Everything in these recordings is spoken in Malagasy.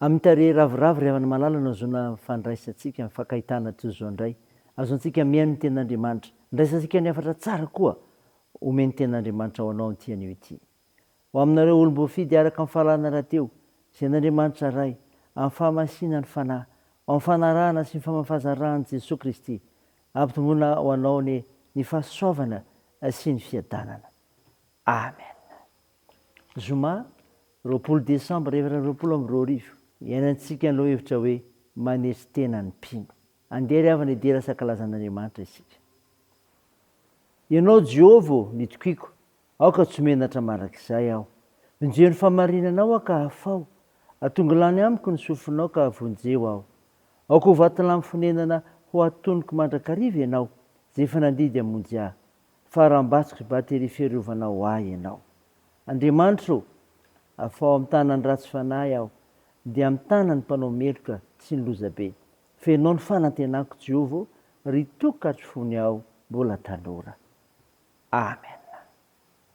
Amin'ny tarehy ravoravo ry havana malala no ahazoana fandraisantsika ny fankahitana toy izao indray. Ahazoantsika mihaino ny Tenin'Andriamanitra. Andraisantsika ny hafatra tsara koa omen'ny Tenin'Andriamanitra ho anao amin'ity anio ity. Ho aminareo olom-boafidy araka ny fahalalana rahateo, izay an'Andriamanitra Ray, amin'ny fahamasiana ny Fanahy, ho amin'ny fanarahana sy ny famafazan ran'i Jesoa Kristy, ampitomboina ho anao anie ny fahasoavana sy ny fiadanana. Amen. Zoma roapolo desambra efatra amby roapolo amby roa arivo, iainantsika ny lohahevitra hoe Manetry tena ny mpino. Andeha ry havana hidera Sakalazan'Andriamanitra isika. Ianao Jehovah ô, ny tokiako, aoka tsy ho menatra mandrakizay aho. Vonjeo ny fahamarinanao aho ka afaho, atongo lany amiko ny sofinao ka avonjeo aho. Aoka ho vatolampy fonenana ho atonoko mandrakariva ianao, izay efa nandidy hamonjy ahy. fa rambatsky batterie fiarovana ho ahy ianao. Andriamanitra o! Afaho amin'ny tanan'ny ratsy fanahy aho, dia amin'ny tanan'ny mpanao meloka sy ny lozabe. Fenoao ny fanantenako Jehovah o, ry tokatry fony aho mbola tanora. Amen.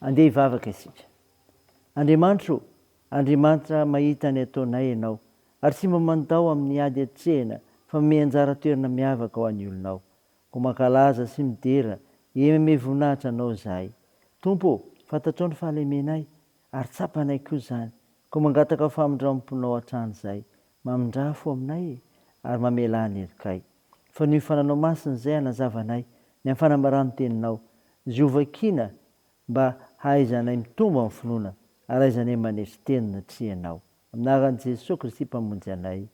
Andeha hivavaka isika. Andriamanitro ô, Andriamanitra mahita ny ataonay Ianao, ary tsy mba mandao amin'ny ady hatrehina fa manome anjara toerana miavaka ho an'ny olonao. Koa mankalaza sy midera eny amin'ny voninahitra Anao izahay. Tompo ô, fantatrao ny fahalemenay, ary tsapanay koa izany, koa mangataka famindramponao hatrany izay, Mamindrà fo aminay ary mamelà ny herikay. Fa noho io fananao masina izay hanazava anay ny amin'ny fanambaran'ny Teninao. Zio vakiana mba hahaizanay mitombo amin'ny finoana ary hahaizanay manetry teny natria anao. Amin'ny anaran'i Jesoa Kristy Mpamonjy anay.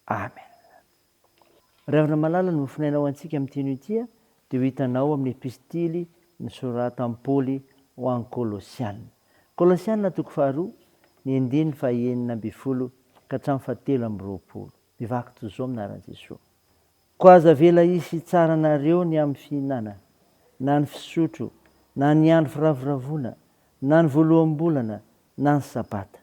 Amen. Ry havana malala ny mofonaina ho antsika amin'ity anio ity dia ho hitanao amin'ny epistily nosoratan'i Paoly ho an'ny Kolosiana. Kolosiana toko faharoa, ny andininy fahenina ambin'ny folo ka hatramin'ny fahatelo amby roapolo. Mivaky toy izao amin'ny anaran'i Jesoa. Koa aza avela hisy hitsara anareo ny amin'ny fihinana, na ny fisotro, na ny andro firavoravoana, na ny voaloham-bolana, na ny sabata.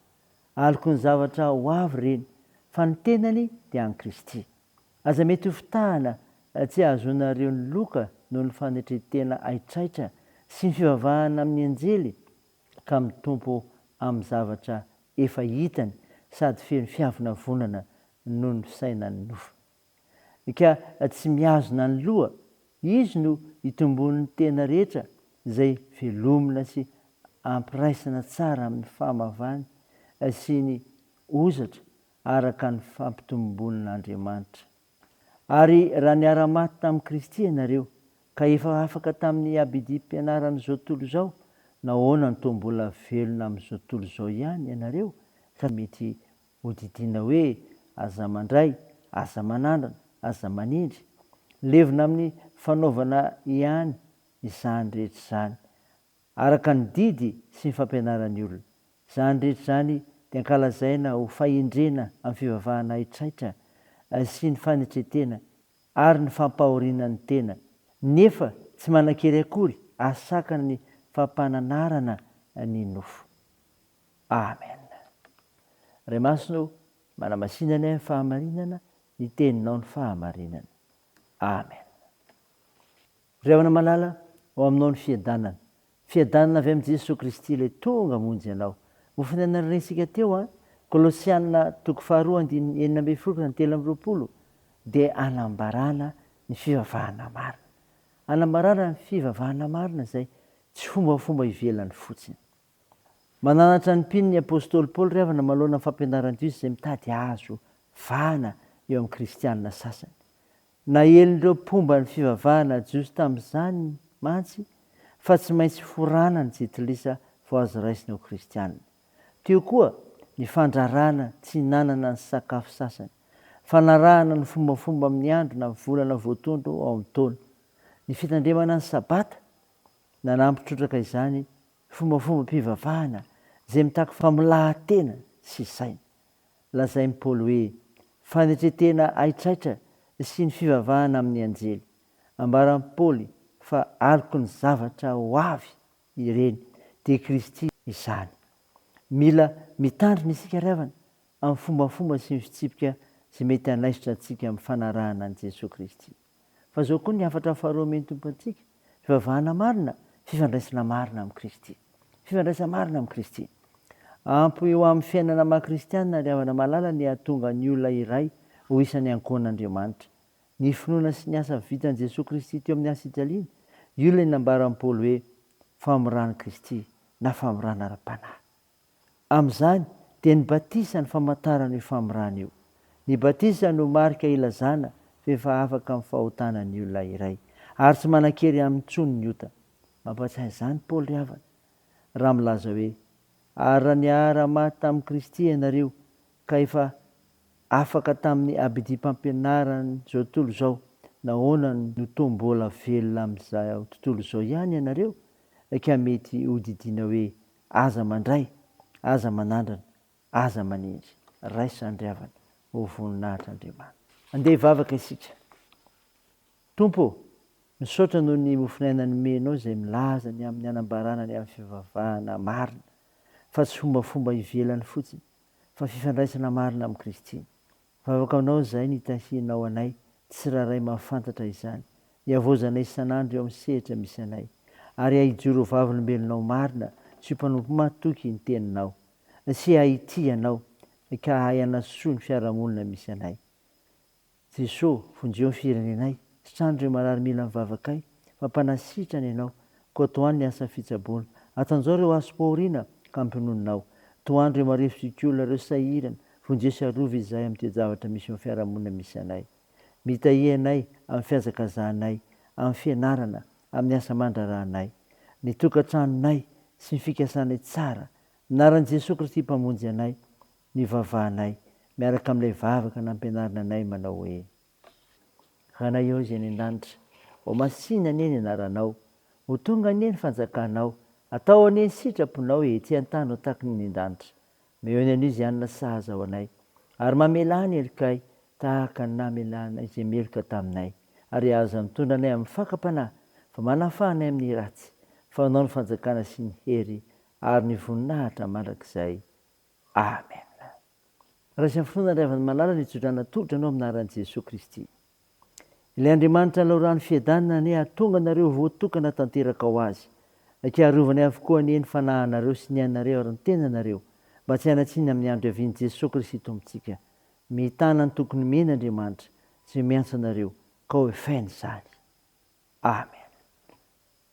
Aloky ny zavatra ho avy ireny, fa ny tenany dia an'i Kristy. Aza mety ho fitahana tsy ahazoanareo ny loka noho ny fanetren-tena haitraitra sy ny fivavahana amin'ny anjely, ka mitompo amin'ny zavatra efa hitany sady feno fiavonavonana noho ny fisainan'ny nofo. ka tsy mihazona ny loha, izy no itomboan'ny tena rehetra izay velomina sy ampiraisana tsara amin'ny fahamavany sy ny hozatra araka ny fampitomboan'Andriamanitra. Ary raha niara-maty tamin'i Kristy ianareo, ka efa afaka tamin'ny abidim-pianaran'izao tontolo izao, nahoana no toa mbola velona amin'izao tontolo izao ihany ianareo, fa mety Hodidiana hoe aza mandray, aza manandrana, aza manindry. Levona amin'ny fanaovana ihany izany rehetra izany, araka ny didy sy ny fampianaran'ny olona. Izany rehetra izany dia ankalazaina ho fahendrena amin'ny fivavahana haitraitra sy ny fanetren-tena ary ny fampahoriana ny tena, nefa tsy manan-kery akory ary sakana ny fampananarana ny nofo. Amen Ray Masina o manamasina ny ahy ny fahamarinana ny teninao ny fahamarinana Amen Ry havana malala ao aminao ny fiadanana fiadanana avy amin'i Jesoa Kristy ilay tonga hamonjy anao mofo ny aina norenisika teo an Kolosiana toko faharoa andininy enina ambin'ny folo ka ny telo amby roapolo dia anambarana ny fivavahana marina anambarana ny fivavahana marina izay tsy fombafomba ivelany fotsiny Mananatra ny mpino ny apostoly Paoly ry havana manoloana ny fampianaran-diso izay mitady hahazo vahana eo amin'ny kristiana sasany. Naelin'ireo mpomba ny fivavahana jiosy tamin'izany mantsy fa tsy maintsy forana ny jitilisa vao azo raisina ho kristiana. Teo koa ny fandrarana tsy hinanana ny sakafo sasany, fanarahana ny fombafomba amin'ny andro na volana voatondro ao amin'ny taona, ny fitandremana ny sabata. Nanampy trotraka izany Fombafombam-pivavahana izay mitaky famolahan-tena sy saina. Lazain'i Paoly hoe fanetren-tena haitraitra sy ny fivavahana amin'ny anjely. Ambaran'i Paoly fa aloky ny zavatra ho avy ireny, dia Kristy izany. Mila mitandrina isika ry havana amin'ny fombafomba sy ny fitsipika izay mety hanaisotra antsika amin'ny fanarahana an'i Jesoa Kristy. Fa izao koa ny hafatra faharoa omen'ny Tompo antsika, fivavahana marina, fifandraisana marina amin'i Kristy. Fifandraisana marina amin'i Kristy. Ampy eo amin'ny fiainana maha kristiana ry havana malala ny hahatonga ny olona iray ho isan'ny ankohonan'Andriamanitra. Ny finoana sy ny asa vitan'i Jesoa Kristy teo amin'ny hasijaliana, io ilay nambaran'i Paoly hoe, famoran'i Kristy na famorana ara-panahy. Amin'izany dia ny batisa no famantarana io famorana io. Ny batisa no marika ilazana fa efa afaka amin'ny fahotana ny olona iray, ary tsy manan-kery aminy intsony ny ota. Mampatsiahy izany Paoly ry havana, raha milaza hoe, Ary raha niara-maty tamin'i Kristy ianareo, ka efa afaka tamin'ny habidim-pampianaran'izao tontolo izao, nahoana no toa mbola velona amin'izao tontolo izao ihany ianareo? Eka mety hodidiana hoe Aza mandray, aza manandrana, aza manenjy. Raisa andriavana ho voninahitr' Andriamanitra. Andeha hivavaka isika. Tompo ô, misaotra noho ny mofon'aina nomenao izay milaza ny amin'ny hanambarana ny amin'ny fivavahana marina, fa tsy fombafomba ivelany fotsiny, fa fifandraisana marina amin'i Kristy. Vavaka Anao izay nitahianao anay tsirairay mahafantatra izany, hiavaozanay isan'andro eo amin'ny sehatra misy anay, ary hahijoro ho vavolombelonao marina sy ho mpanompo matoky ny Teninao, sy hahitia Anao, ka hahay hanasoa ny fiarahamonina misy anay. Jeso, vonjeo ny firenenay, sitrano ireo marary mila ny vavakay, fa mpanasitrana Ianao, Koto an ny asa fitsaboana. Atanjao ireo aso po aoriana ka ampiononao. Toandro ireo marefo sikiolona ireo sahirana. Vonjeo sy arovy izahay amin'ny toe-javatra misy eo amin'ny fiarahamonina misy anay. Mitahia ianay amin'ny fihazakazahanay, amin'ny fianarana, amin'ny asa aman-draharahanay. Ny tokantranonay sy ny fikasanay tsara. Anaran'i Jesoa Kristy Mpamonjy anay no ivavahanay miaraka amin'ilay vavaka nampianarina anay manao hoe. Ranaiao izay any an-danitra. Ho masìna anie ny anaranao. Ho tonga anie ny fanjakanao. Atao anie ny sitraponao ety an-tany ho tahaky ny any an-danitra. Meo ny anio izay hanina sahaza ho anay. Ary mamelà ny helokay tahaka ny namelànay izay meloka taminay. Ary aza mitondra anay amin'ny fakam-panahy, fa manafaha anay amin'ny ratsy. Fa ho anao ny fanjakana sy ny hery ary ny voninahitra mandrakizay. Amen! Raisiny fo na raivany malala ny tsodrano atolotro anao amin'ny anaran'i Jesoa Kristy. Ilay Andriamanitra lalao rano fiadanana anie hahatonga anareo voatokana tanteraka ho Azy, aka arovany avokoa anie ny fanahinareo sy ny ainareo ary ny tenanareo mba tsy hanatsiny amin'ny andro hiavian'i Jesoa Kristy Tompontsika. Mitana ny tokony omeny Andriamanitra izay miantso anareo ka ho efainy izany. Amen!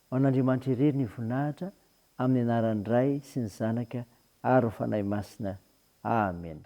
Ho an'Andriamanitra irery ny voninahitra, amin'ny anaran'ny Ray sy ny Zanaka ary ny Fanahy Masina. Amena.